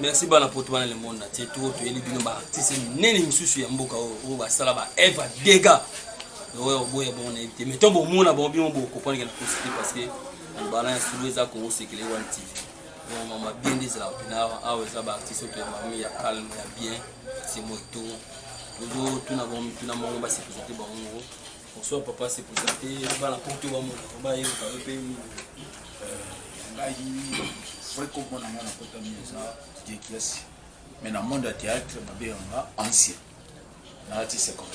merci bana poto bana le monde atie tour toyeli bino baartiste minene misusu ya mboka oyo oyo basala baevre ya dega oyo oboya bango nayebi te mais to bomona bango bino bokoprendre na kosi te parce que bana ya sulu eza kongo sekele wana tv donc mama bien nde ezalaka mpena awa awa eza baartiste oyo ya mami ya calme ya bien simoto tozotuna bango mituna moko basepesa te bango moko Bonsoir papa, c'est présenté bana poto ba mona ba ye ka pe ngai vrai comme mona mona kota mieza Dieu qui est mais na monde ya théâtre ba be nga ancien na ati 50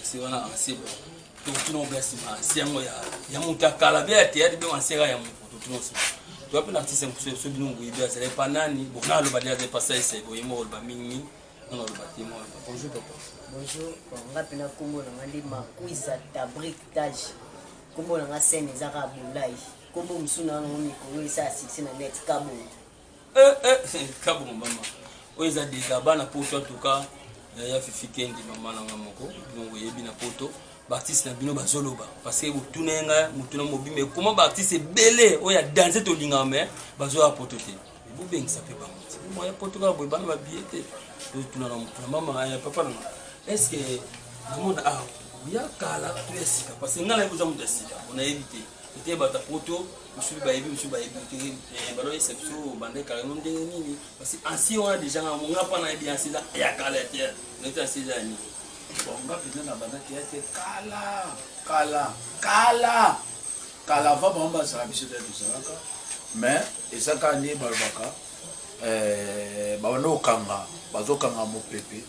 c'est wana ancien bon donc tout non bien sima ancien ngo ya ya muta kala bien théâtre bien ancien ya muta tout non sima tu appelles artiste mpuso so bino nguyi bien c'est pas nani bon na lo ba dia de passage c'est boyemo ba mingi Bonjour papa. Bonjour. Nga pena kombo na nga nde Makuiza Tabrik Taj. Kombo na nga scène eza ka bolai. Kombo musu na ngo mikolo esa succès na net kabo. Eh eh kabo mama. Oyo eza désabana na poto en tout cas. Ya Fifi Kendi mama na nga moko. Donc yebi na poto. baartiste na bino bazoloba parce que botuna ye ngai motuna mobimba ekoma baartiste ebele oyo ya danse tolingaka mai bazoya poto te Mais vous bengisa pe bango. C'est pour moi ya poto kaka boye bana ba billets te. To tuna na mama ya papa na. Est-ce que na mona ah ya kala to ya sika parce que ngala eboza mutu ya sika on a évité. Ete bata poto musubi ba yebi musubi ba yebi te eh, balo yesa biso bande kala no ndenge nini parce que ancien wana déjà nga monga pa na yebi ancien ya kala te. Na te ancien ya nini. Bon nga pena na banda te kala kala kala Kala avant bango bazala biso nde tozalaka mais eza kaka nde balobaka eh, babanda kokanga bazokanga mopepe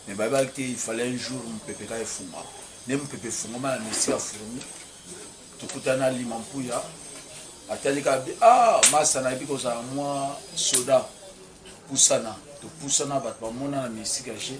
mais bayebaki te il fallait un jour mopepe kaka efungama nde mopepe efungama na mesi ya fourmi tokutana lima mpuya atali kaka bi ah masa nayebi kozala mwa soda pusana topusana bato bamonana na misika je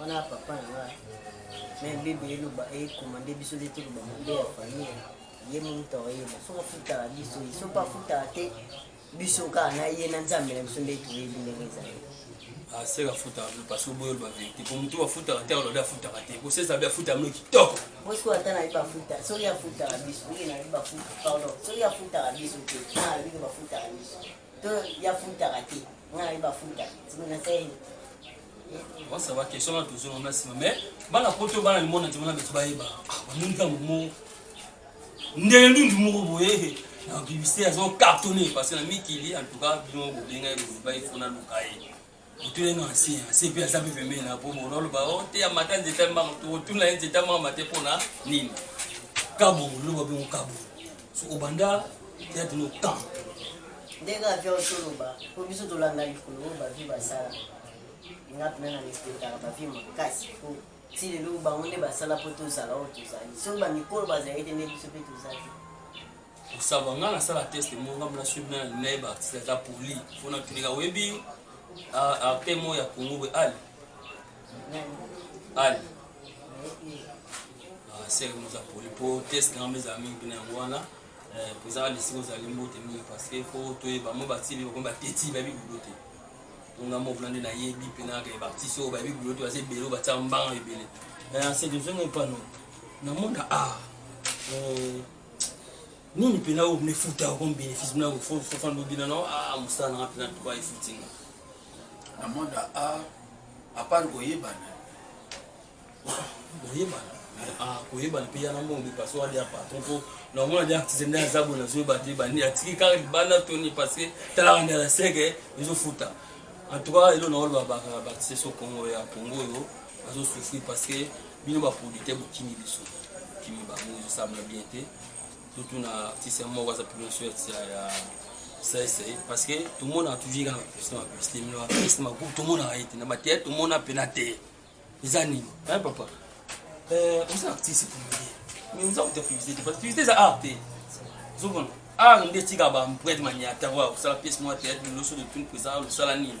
wana papa na nga mais bebe eloba ekomande biso nde toloba mabe ya famille ye momutu akoyeba soki afutaka biso ye soki afutaka te biso kaka na ye na nzambe na biso nde toyebi ndenge ezali aseka afutaka bino parce oboyi oloba verité po motu afutaka te alobi afutaka te kosesa bi afuta bino kitoko bosiko ata nayebi bafuta soki afutaka biso ye nayebi bafuta pardon soki afutaka biso te na alobi bafutaka biso To ya futaka te. Nga na ba futa. Sima na sayi. Wa sa ba question na tuzo na sima mais bana poto bana limona timona betu ba yeba. Nini ka mo. Ndele ndundu moko boye. Na bibiste azo cartonner parce que na mikili en tout cas bino bobenga ye ba ifona lukaye. otuna ino ancien ancien mpe aza mpe pembeni na po mokolo aloba o oh, te ya mata nzete ya mbanga tokotuna ye nzete ya mbanga mate mpo na nini kabongo loba bongo kabongo so obanda teyate no camp ndenge avia osoloba mpo biso tolanda likolo oyo bavi basala nga mpena na respectaka bavi makasi mpo ti lelo bango nde basala mpo tozala oyo tozali soki bamikolo bazali te nde biso mpe tozali Kosava nga na sala test mo nga mona sweet na naye ba artiste aza poli fo na tunika oyebi arte mo ya Congo we ali ali ah, sere mo za poli po test na nga meza mingi pina yango wana eh, po ezaka lisiko ozali mbote mingi parce que fo toyeba mo batibi bakomi bateti bayebi bulo te po nga mo kuna nde nayebi pina ke ba artiste oyo bayebi bulo te baza ebele oyo batia mbanga ebele eh, c'est de zongo epano na monde ah eh, Nini pena oyo mne futa yo comme benefice mna fo fo fan lobi na no ah musala na nga pena tuka efuti nga. Na monde a ah, à part ko yebana. Ko yebana. Ah, ko yebana pe yana mbongo parce que wadi patron po na omona dia artiste nda zabo na zoba te bandi atiki kaka banda toni parce que tala banda la sege ezo futa. En tout cas, elo na olo ba ba artiste so Congo ya Congo yo azo souffrir parce que Bino ba producteurs bokimi biso. Bokimi bango ezo sambla bien te. Totuna artiste moko aza plus sweat ya ya sese parce que tomona toujours kaka na publicité ma publicité mino na publicité ma groupe tomonaka ye te na ba théâtre tomona mpe na te eza nini hein papa euh, oza artiste comédien mais oza kuta publicité te parce que publicité eza art te ozomona art nde etika ba emprunte maniata oyo akosala pièce moko ya théâtre liloso de tune mpo eza losala nini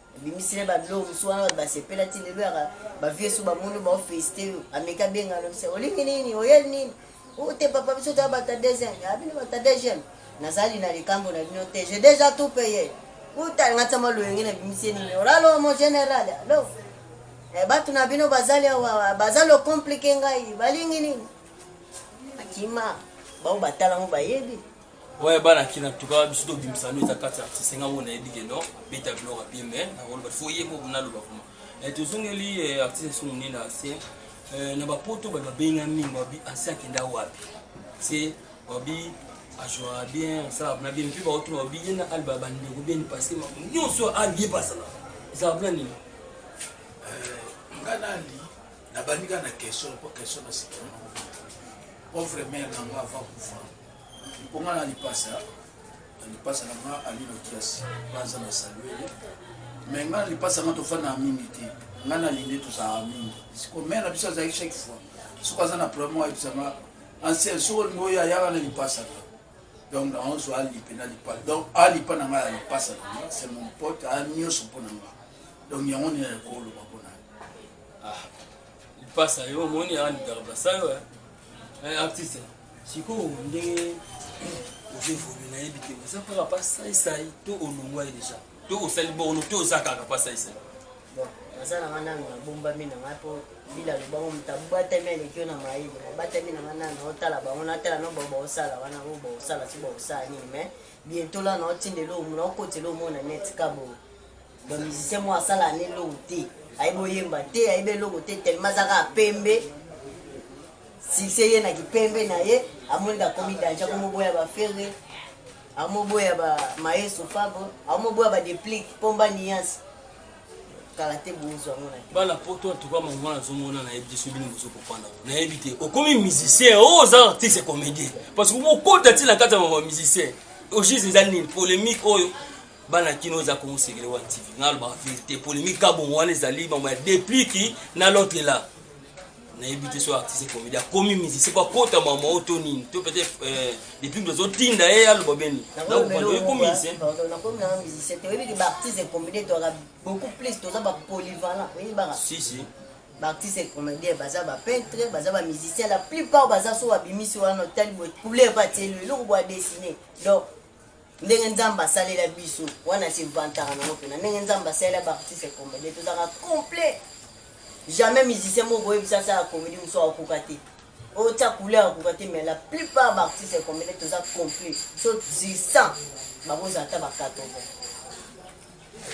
Obimisi na ye ba biloko mosusu wana bato basepela ti lelo yaka ba vieux soki bamoni yo bao felicite yo ameki abenga na biso olingi nini oyeli nini oh te papa biso toza bato ya deuxième ya bino bato ya deuxième nazali na likambo na bino te je deja tout paye uta nga tsama loyenge na bimisi nini olalo mon general alo eh, bato na bino bazali awa baza locomplike ngai balingi nini akima bango batala yango bayebi Ouais bana kin en tout cas biso to bimisa no eza kati artiste nga wona yebi ke no beta biloko ya bien mais na koloba faut ye moko na loba kuma eh, tozongeli eh, artiste so munene ancien eh, na bapoto bato babenga mingi babi ancien akenda wapi se babi ajouaka bien asalaka na bien mpe baotuna babi ye na alba bandeko bien parce que makambo nyonso alie basala ezalaka mpona nini nga nali nabandi kaka na question po question na sikana pauvre mare nango avant kufa Likonga na lipasa na lipasa na nga ali lokiasi baza na saluele me nga na lipasa nga tofandaka mingi te nga na linde tozalaka mingi siko mare na biso azalaki chaque fois soki aza na problème oyo ayebisanga ancien soki olingi oyo ayaka na lipasa na donc na onso alipe na lipa donc alipa na nga ya lipasa na nga c'est mon pote aya nyonso mpo na nga donc yango nini ayakoloba mpo na ah, lipasa yo omoni aya ndikaka basayo eh. Eh, artiste sikoyo ndenge ozo evolue nayebi te oza kaka pa saisai to olongwai deja to osali borno to oza kaka pa saisai naza na nga nanu nabombami na ngai mpo mbila lobango moto abatami aleki yo na mayele nabatami na nga nanu naotala bango natala no bao baosala wana oyo baosala si baosala nini mai bientola naotindela oyo naokotela omona neti kaboyo Ba musicien moko asala na eloko te ayebi oyemba te ayebi eloko te tellement aza kaka pembe succès ye na kipembe na ye amoni kakomi danje akomoboya bafere amoboya ba maestro fabo amoboya ba deplique pomba nuance kala te bozo yango na bana poto antuka mango nazomona nayebi te so bino bozokopanda nayebi te okomi musicien oyo oh, oza artiste comédien parce que bokota ntina kati ya mama musicien ogise eza nini polémique oyo bana kino eza kongo sekele wa tv nga alobaka verité polemique ka bongo wana ezali mambo ya depliki na lote la nayebi te so artiste comédien akomi musicien po akota mama oyo to nini to peut-être euh, depuis que tozotinda ye aloba beni nakomimusicien toyebi ke baartiste comédien toyaka beaucoup plus toza bapolyvalent oyebaka si si baartiste comédien baza bapeintre baza bamusicien la plupart baza so babimisi wana otali boye couleur bateli eloko boya dessine donc Ndenge nzambe asalela biso wana se vantaka nango pena ndenge nzambe asalela ba artiste comedien tozalaka complet jamais musicien moko koyebisa asala comedie mosusu akokoka te otia couleur akokoka te mais la plupart ba artiste comedien toza complet so 100 bakozala ata ba 80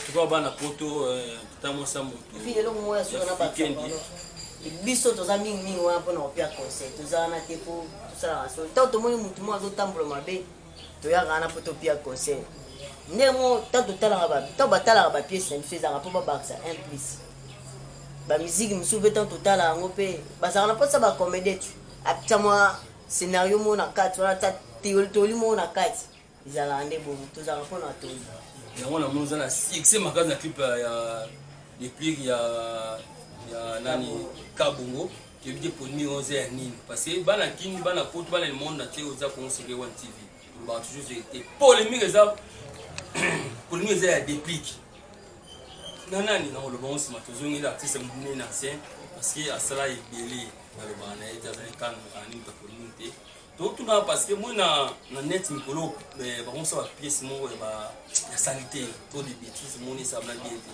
tuka bana poto euh, ta mwasa moto epi eloko moko ya solo na bato biso toza mingi mingi wana mpona kopia conseil toza wana te mpo tosalaka solo ntango tomoni motu moko azotambola mabe toyaka wana mpo topia conseil ndenge moko ntango totalaka ntango batalaka bapiese na biso ezalaka mpo babakisa un plus bamiziki mosusu mpe ntango totala yango mpe bazalaka na mposa bacomédie ti apesa mwa scénario moko na kati wana ta toli moko na kati ezalaka nde bongo tozalaka mpo na toli yango na moni oza na succès makasi na clip ya deplique ya ya nani kabongo Toyebi te polemique oyo eza ya nini parce que bana kin bana poto bana le monde entier oza kongo seke one tv olobaka toujours verité polemique eza polemique eza ya déplique na nani na oloba ngo nsima tozongeli artiste mobimeli na ancien parce que asala ebele nalobaka na ye te azali kano na nini takolini te totuna parce que moi na, na net mikolo eh, bakomisa bapiece moko ya salite to de bétise moni esablaki ete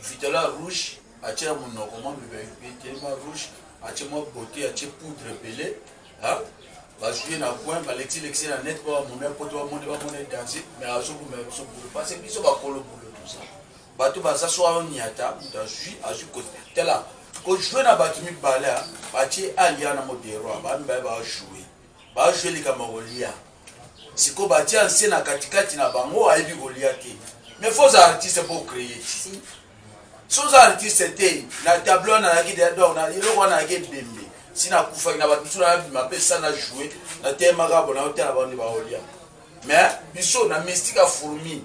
Vitala rouge atie na munoko mwa vitali mwa rouge atie mwa beauté atie poudre ebele hein ba jouer na coin ba lexi lexi na net ba mona poto ba mona ba mona danse mais azo buma biso boulot parce que biso ba kolo boulot tout ça bato baza so ayo niata mutu azui azui ko tala ko jouer na bato mibale atie alia na modero ba mibale ba jouer Ba joue likambo ya kolia sikoyo batie ancien na katikati na bango ayebi kolia te mais faut oza artiste po ocreye ti so oza artiste te na tableau wana nayaki deya donc na eloko wana nayaki ebembe si nakufaki na bato mosusu nabima mpe sa na joue nateyemaka bona otala bango nde baolia mais biso na mystique ya fourmi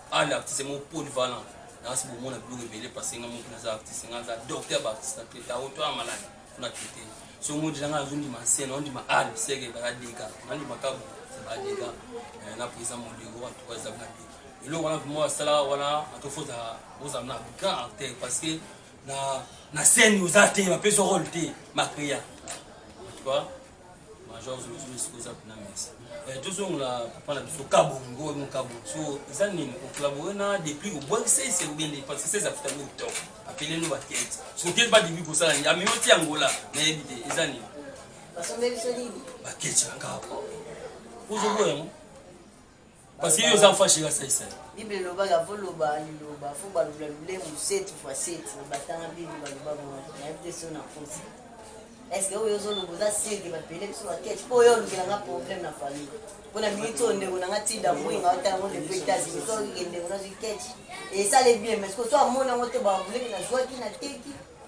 Anne artiste moko polyvalent nasi bomona biloko ebele parce nga moki naza artiste nga naza docteur ba artiste na traite awo to ya malade kuna traite so ngo deja nga nazo ndima scène on ndima Anne seke ba dega na ndima kabu c'est ba dega eh, na président Mondego en tout cas eza ba dega eloko wana vraiment asala wana atofoza ozala na grand acteur parce que na na scène oza te bapesa role te macrea en tout cas Major Zuluzulu siko eza kuna merci. Eh, tozongola papa na biso kabongo ngo mo kabongo. So eza nini ko collaborer na depuis ko boire c'est c'est bien parce que c'est afta go top. Appeler nous ba tête. So quel pas début ko sala ni ami oti angola na ebite eza nini. Basombe biso nini? Ba ketcha ngabo. Ozo boya mo. Parce que yo oza mfa shira sai sai. Bible eloba la voloba liloba faut ba lula lulemu 7 fois 7 ba tanga bible ba loba bo na yebite so na kosi. Est-ce que oyo ozo loba oza sûr que ba pele biso ba ketch po yo lukela nga problème na famille. Po na minute oyo ndeko na nga tinda mbuyi nga otala ngo depuis États-Unis to ke ndeko na zui ketch. Et ça les bien mais ce que soit mona ngo te ba voulez que na zua ki na teki.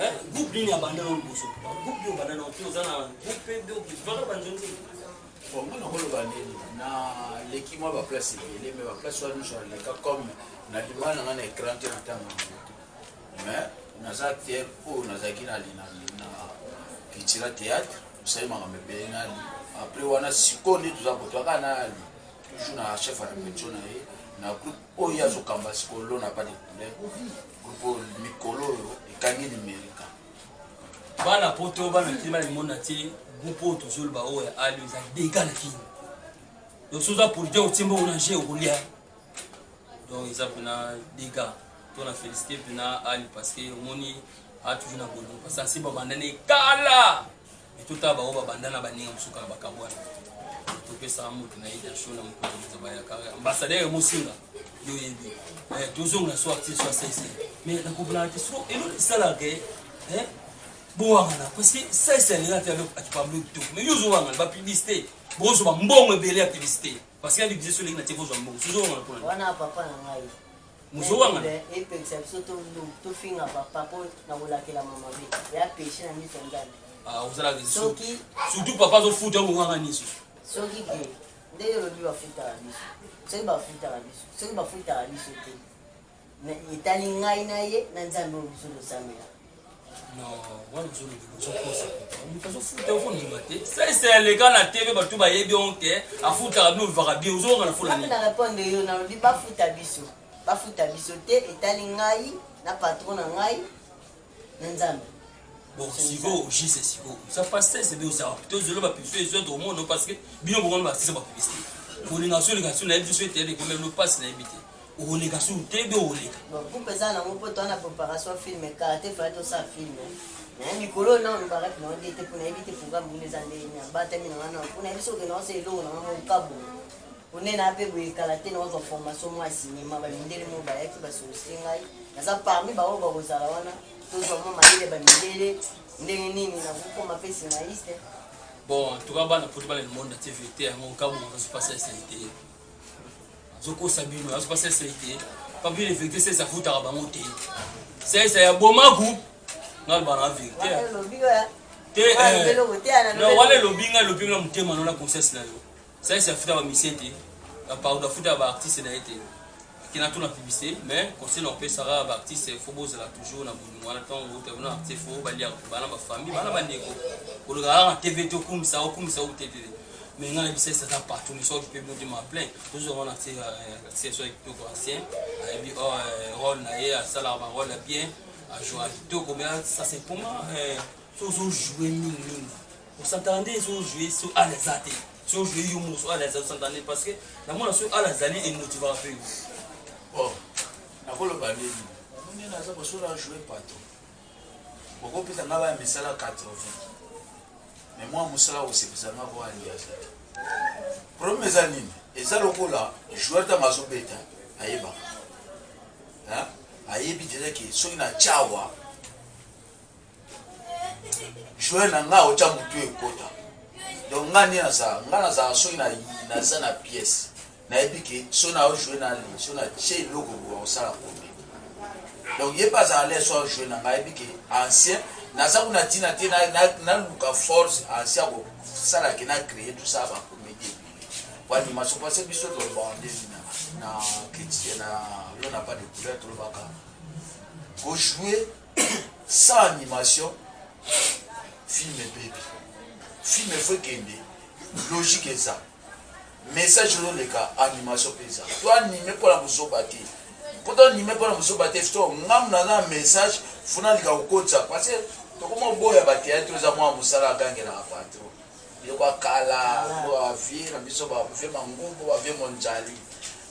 Eh, groupe nini abanda na liboso groupe yo obanda na opi oza na groupe mpe okipaka banzo nini bon nga nakoloba nini naleki mwa baplace ebele mai baplace wana nyonso naleka comme nalima na nga na écran te na ntango yango te mais naza acteur oyo nazalaki na kitila théâtre osali makambo ebele nali après wana sikoyo nde toza kotoa kaka nali toujours na chef ya repetition na ye na groupe oyo azokamba sikoyo lona pas de couleur Groupe oyo mikolo oyo ekangi limerika. Bana poto bana kin bana limona te groupe oyo tozoloba oyo ya ali eza dega na kin donc soki oza produit otie mbongo na jeu okolia donc eza mpena dega to na félicité mpena ali parce que omoni a toujours na bolingo parce que ansi babanda ne kala Mais totala bango babanda na baninga mosuka na bakabwana topesa moto na ye dasho na mokoto moto bayaka ambassadeur emosinga yo oyebi eh, tozonga na soir ti soir sese mais nakoblana te soko eloko esalaka ye eh, bowangana parce que sese alinga te akipamblo kitoko mais yo ozowangana bapublicité bozwa mbongo ebele ya publicité parce que ya publicité soki elingi na tie kozwa mbongo sozowangana mpona wana papa na ngai muzo wangana eh, eh, epekisa biso tofinga papa mpo na kolakela mama be ya peshe na miso ya nzambe ah, ozalaka soki surtout papa azofuta yango wanga nyonso soki ke ndenge olobi bafutaka biso soki bafutaka biso soki bafutaka biso te etali ngai na ye na nzambe oyo biso tosambela sese aleka na tv bato bayebi yango te afutaka bino olvaka bie ozonga na fona na reponde yo nalobi bafuta biso bafuta biso te etali ngai na patron na ngai na nzambe bon sikoyo jise sikoyo oza pa sese be ozala tozolo bapibisio ezo tokomono parce que bino bokono basisa bapibisite kolinga solinga so nayebi biso ete ekomi elo mpasi nayebi te okoleka sur tebe okoleka bon groupe eza nango mpo toa na préparation film kala te fale tosala film naye mikolo oyo nao olobaka ti nao dete mpo nayebi te programme kuna eza ndenge nini abatami na ngai nao mpo nayebi soki nao se eloko na ngai mokabu one na mpe boye kala te naozwa formation mwa ya cinéma bamindele moko bayaki basolosite ngai naza parmi baoyo bakozala wana tozwa mwa mayele bamindele ndenge nini nakokoma mpe scénariste bon tuka bana poti bana limonda te vérité yango kabu ozo pasa esalite azokosa bino azopa sese te papine vérité sese afutaka bango te sese ya bomaku naloba na vérité te eh. wana elobi ngai elobi na motema no na conscience na yo sese afutaka misie te bapardo afutaka baartiste na ye te kina tuna publicité mais conseil na opesaka baartiste fo bozala toujours na bolingo wana ntango otaki na artiste fo baliaka bana bafamille bana bandeko koleka kaka na tv te okumisa okumisa otetete mais ngai na bisaisa eza partout mais soki mpe bodi ma plein tozwa wana sesoi kitoko ancien ayebi role na ye asalaka barole ya bien ajouaka kitoko mais ça c'est pour moi so ozojoue mingi mingi osantana nde ezojoue so ala eza te so ojoue yo moso ala eza osantana nde parce que namona so ala azali emotivaka mpe yo nakoloba nini nde naza kosola joue pato bokopesa nga baya misala 80 Mais moi musala kosepisa nga ko andi aza te. Problème eza nini? Eza lokola joueur tango azo beta ayebaka. Hein? Ayebi déjà que soki na chawa joueur na nga ocha mutu ekota. Donc nga nini nazala? Nga nazala soki na naza na pièce. Nayebi que soki nao jouer na Ali, soki na tie eloko boye akosala combien. Donc ye pe azala l'aise soki a jouer na ngai, ayebi que ancien naza kuna tina te naluka force ancien akosala que na creer tout ça ba comedie ebele. Po animation parce que biso tolobaka nde na na critique na l'on n'a pas de couleur tolobaka ko jouer sans animation film ebebi. Film efo ekende logique eza. Message ezo leka animation pe eza. To anime pona buzoba te. Po to anime pona buzoba te sikoyo nga mutu naza na message faut naleka ko kotisa parce que toko mo boya ba theatre oyo eza mua musala agangelaka patron. Biloko ya kala biloko ya ba vieux na biso ba vieux mangungu ba vieux mondjali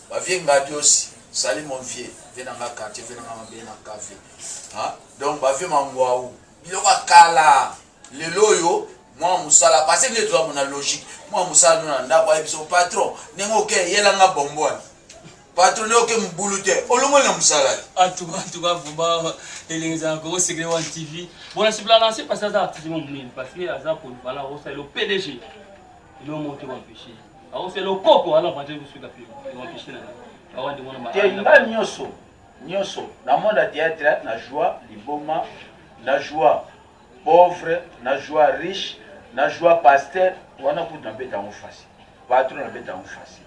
ba vieux ngadiosi salut mon vieux vieux na nga quartier vieux na nga mabele na cave ha donc ba vieux manguau biloko ya kala Lelo oyo mwana musala pase nde toza mona logique mwana musala no na ndako ayebi so patron ndenge oke yela nga bombo wana patron nde oke mobulu te olongoli na musala atuka vraimen elengi ezala koko secret wan tv bona sibla lance pase aza artiste mo monene parce que aza polyvalent akosa elo pdg elo moto ekoempeshe akosa elo koko ala vanje kosuka pe ekoempeshe na awande mona te nga nyonso nyonso na monde ya theatre na joie liboma na joie Pauvre na joua riche na joua pasteur wana kutu na beta yango facile patron na beta yango facile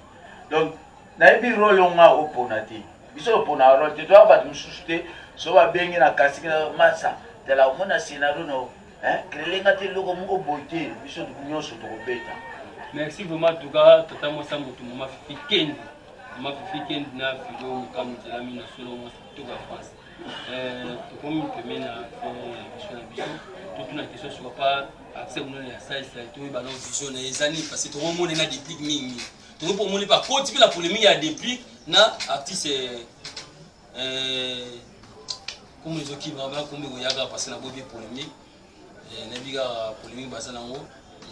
donc na yebi role oyo nga o pona te biso to pona role te toya batu mususu te so ba bengi na casting na masa tala omona scenario no hein crele nga te loko moko boy te biso nionso to ko beta merci vraiment tuka tata mo sa mutu mo ma fifi kendi ma fifi kendi na fifi o mukamu tela mi na solo mo sa tuka france tokomi pembeni na biso na biso totuna question sur pas accès monene ya science na toyeba na vision na ye eza nini parce que tokomona na déplic mingi mingi tokomi mpo omoni bakoti mpe na polémique ya déplic na artiste komi ezokima ba komi koyaka parce na boyebi polémique nayebi kaka polémique baza nango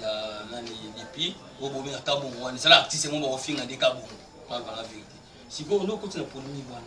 ya nani déplic oyo bomi na kabongo wana ezala artiste yango bakofinga nde kabongo mpaka na vérité sikoyo nde okoti na polémique wana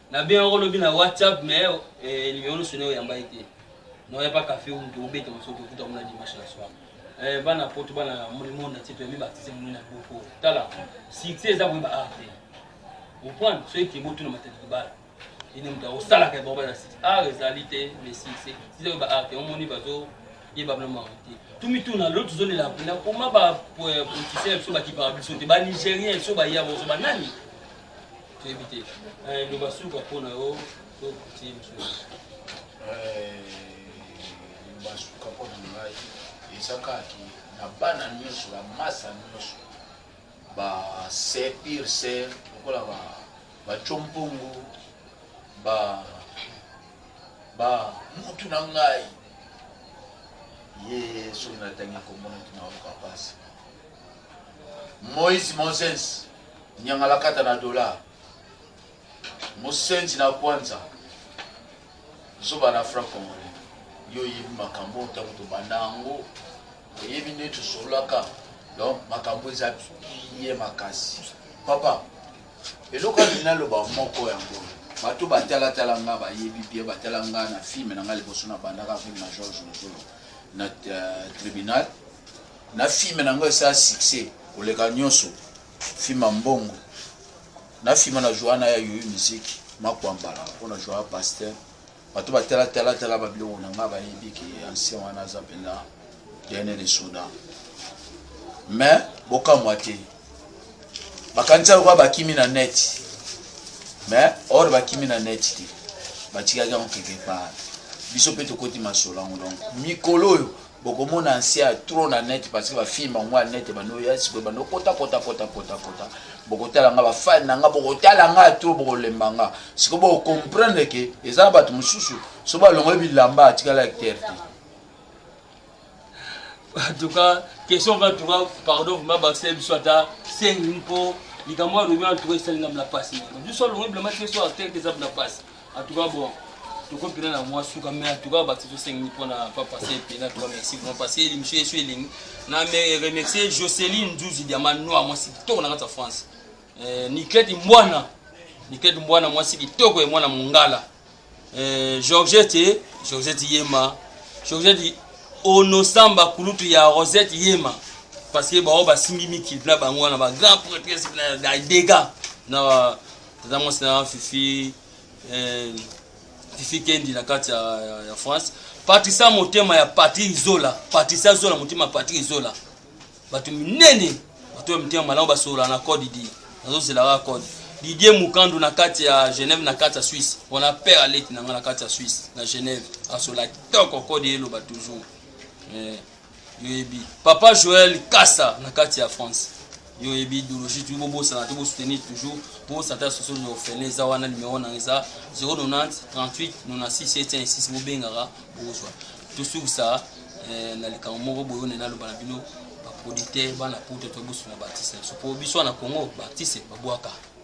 Na benga ko lobi na WhatsApp mais numero no sonne oyamba ye te. Non y'a pas café ou to beta moso to kuta mona dimanche na soir. Eh bana poto bana le monde entier to yemi baptise mona na boko. Tala succès eza boyeba art te. Vous prenez soki ke botu na matadi kibala. Ine mutu akosalaka ya boba na site. Art ezali te mais succès. Siza boyeba art te omoni bazo ye babino mango te tomituna lo tozolela mpena koma bapolitisien biso bakipaka biso te banigérien biso baya bozo banani toyebi te eh, loba suka mpo na yo to kotie mosusu eh, loba suka mpo na ngai eza kaki na bana nyonso bamasa nyonso base pire se lokola bacompongo ba ba mutu na ngai ye soki natangi kombo na tuna okapasi moise moses Nyangalakata na dollars, musenzi na kwanza, zoba na franc congolais. Yo oyebi makambo oyo tango tobanda yango, oyebi nde tosololaka donc makambo eza bien makasi. Papa, eloko alingi naloba moko yango bato batalatala nga bayebi bien batala nga na filme na nga liboso na bandaka filme na george lozolo na euh, tribunal Na film na nga esala succès koleka nionso film ya mbongo na film na joua na ya yoyu musique makuambala po na joua pasteur bato ba tala tala tala ba biloko na nga bayebi ke ancien wana aza penza dene de soda mais bokamwa te bakanisa lokola bakimi na net mais or bakimi na net te batikaki yango quelque part biso mpe tokoti masolo yango donc mikolo oyo bokomona ancien ya trop na net parce que bafilme bango ya net ebanda oya sikoyo ebanda okota kota kota kota kota bokotala nga bafani na nga bokotala nga ya trop bokolemba nga sikoyo bokomprendre ke eza na bato mosusu so balongoli bilamba atikala acteur te en tout cas question va tout cas pardon vraiment basala biso ata sengi mpo likambo alobi en tout cas esali nga mna pasi biso alongoli bilamba te so acteur te eza mna pasi En tout cas bon, toko pena na mwa suka mais en tout cas batu tosengi mpo na pa passé pena toi merci vraiment parce que émission yesu elengi na me remercier Jocelyn Nzuzi diamant noir mwasi kitoko na kati ya France eh, Niketi Mbwana Niketi Mbwana mwasi kitoko ya mwana mongala eh, Georgette Georgette Yema Georgette Onosamba kulutu ya Rosette Yema parce que bao basimbi mikili na bango wana ba grand prêtresse na dega na tata mwasi na nga fifi eh, fifi kendi na kati ya, ya, ya france patricia motema ya patrik zola patricia zola motema ya patrik zola bato minene bato ya mitema malamu basolola na code didie nazozela kaka code didie mukandu na kati ya genève na kati ya suisse wana père aleti na ngai na kati ya suisse na genève asola kitoko code eloba toujours eh. yoyebi papa joel kasa na kati ya france yoyebi idéologie toyi bobosana te bosoutenir toujours bobosana te ya soso de ofele eza wana numero nanga eza 090 38 96 716 bobengaka bozwa tosukisa eh, na likambo moko boyone naloba na bino baproducteur bana poto toyebosuna baartiste na biso mpo biso wana congo baartiste babwaka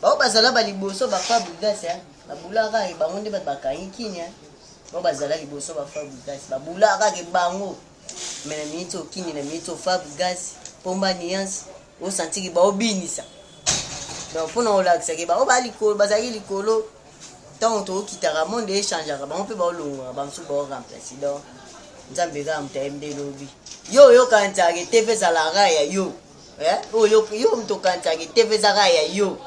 Bao bazala ba liboso ba fabrigas hein. Ba boula kaka bango nde ba bakangi kin hein. Bao bazala liboso ba fabrigas. Ba boula kaka bango. Mais na minute au kin na minute au fabrigas. Pomba nuance. O sentir ki bao binisa. Donc pona olakisa ki bao ba likolo bazali likolo. Tango to kitaka monde e changeaka bango pe bao longwa ba musu bao remplacer. Donc nzambe kaka moto ayembi nde lobi yo oyoka nzake te mpe ezalaka ya yo Eh, oyo yo moto okanisaka eteve ezaka ya yo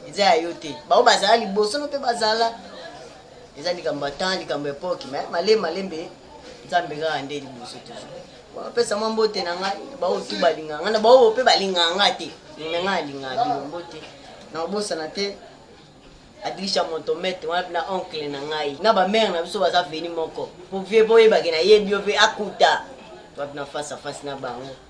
eza ya yo te bango bazala liboso no mpe bazala eza likambo ya temps likambo ya epoke me malembe malembe nzambe kaka nde liboso toujours bapesa mwa mbote na ngai baoyo tu balinga ngai na baoyo mpe balinga nga te me ngai nalinga bino mbote nakobosana te adilisha moto mete wana mpe na oncle na ngai na bamare na biso baza veni moko po vie po oyebake nayebi yo mpe akuta wapi na face a face na bango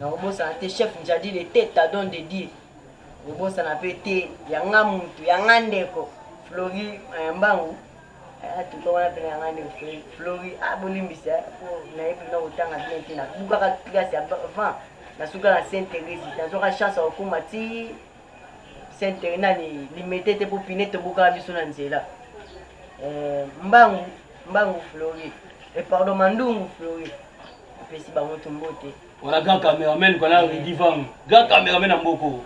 Nakobosana te chef Njadile te Tadon de Dieu kobosana pe te ya nga mutu ya nga ndeko Flory Mayambangu eh, en tout cas wana pena ya nga ndeko Flory Flory ah bolimbisa eh, po nayebi bino kotanga bien te nabukaka classe ya avant nasuka na Saint Therese nazwaka chance ya kokoma ti Saint Therese nani limete te po pine tobukaka biso na nzela eh, mbangu mbangu Flory eh, pardon mandungu Flory Napesi bango tu mbote. Wana grand cameraman kwa na Rudy Vang. Grand cameraman na mboko.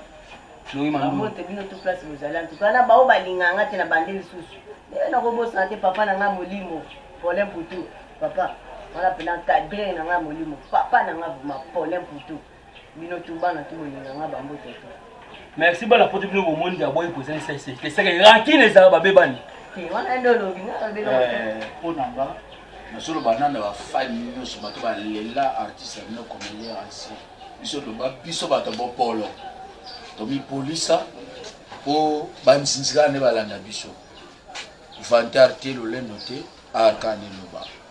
Flori Mandu. Mbote bino tu place bozali en tout cas na bao balinga nga te na bande lisusu. Lelo nakobosana te papa na nga molimo. Paulin Poutou. Papa wana pena cadre na nga molimo. Papa na nga vraiment Paulin Poutou. bino tu bana tu bolinga nga ba mbote te merci bana poto bino bomoni nde aboyi kozangisa eseki eseki rankine ezala babebani te wana nde olobi nga babela eh, mpo na nga nazoloba nana bafani nyonso bato balela artiste ya bino comédien ancien biso toba biso bato bopolo tomipolisa mpo banzinzikana nde balanda biso vantar te lolendo te arka nde loba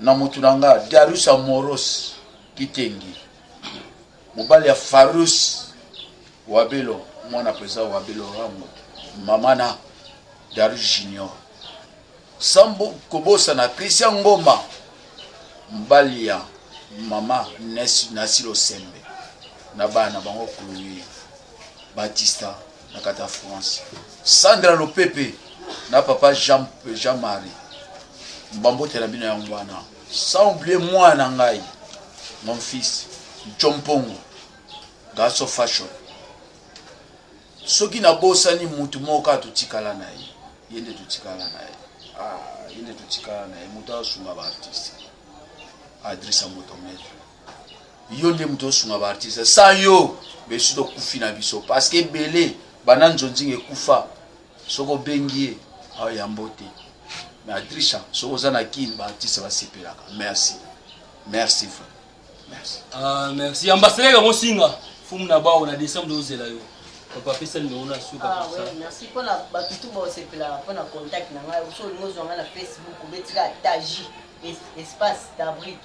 na mutu na nga Darius Amoros Kitengi mobali ya Farus Wabelo mwana president Wabelo Rango mama na Darius Junior sambo kobosana Christian Ngoma mobali ya mama Nasilo Sembe na bana bango Chloe Batista na kati ya france sandra lopepe na papa jean, jean marie bambotela bino yango wana sans oublie mwana na ngai mon fils jompongo gaso fashion soki nabosani motu moko kaka totikala na ye ye nde totikala na ye ah, ye nde totikala na ye moto asunga baartiste adrisa moto metre Yo nde moto osunga ba artiste sans yo besu tokufi na biso parce que ebele banda nzonzinga ekufa soki obengi ye ayambo te mais adrisha soki oza na kin ba artiste basepelaka merci merci frère merci ah merci ambassadeur ya mosinga fumu na bao na décembre tozela yo papa pesa numéro na suka ah, oui, merci mpo na bato tu baosepelaka mpo na contact na ngai oso olingi ozwa ngai na facebook obetika taji espace d'abrique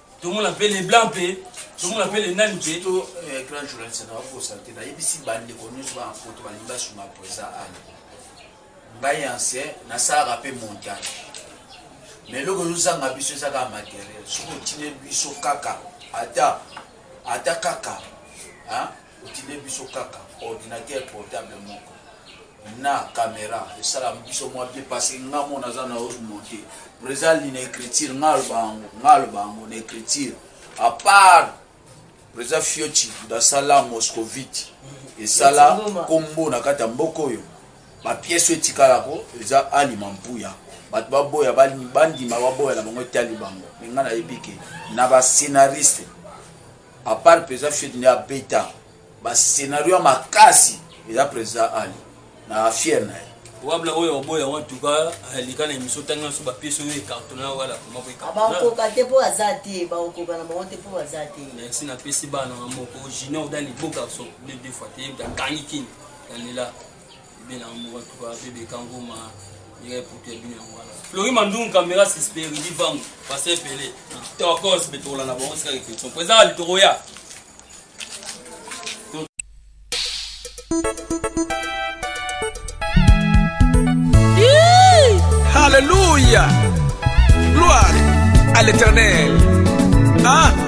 tomona mpe leblanc mpe tomona mpe lenani mpe to eh, grand journaliste na wakosa te nayebisi bandeko nyonso bana poto balingi basunga presa ana ngai ancien nasalaka mpe montage ma eloko ezozanga biso eza kaka materiel soki otine biso kaka ata ata kaka Otindeli biso kaka ordinateur portable moko na camera esala biso mwa bien parce que nga mona aza na os monte Brezal ni na écriture nga aloba yango nga aloba yango na écriture à part Brezal Fiochi dasala moscovite esala kombo na kati ya mboka oyo bapiese oyo etikalako eza alima mpuya bato baboya bandima baboya na bango etali bango me ngai nayebi ke na bascenariste A part president Tshisekedi nde abeta ba scenario ya makasi eza president Ali na affiere na ye. Wabla oyo oboya wan tuka leka na emission otangi na biso ba piece oyo ecartona wala koma ko ecartona. Ba koka te po aza te ba koka na bango te po baza te. Merci na pesi bana nga moko junior da liboka so ble deux fois te yebda kangi kin na lela. bien na mboka tuka bebe kangoma yeye putu ya bino yango wana flori mandungu kamera sisperi livangu pase pele tokos betokola na bango sika reflexion po ezaka litokoya Alléluia. Gloire à l'éternel. Hein?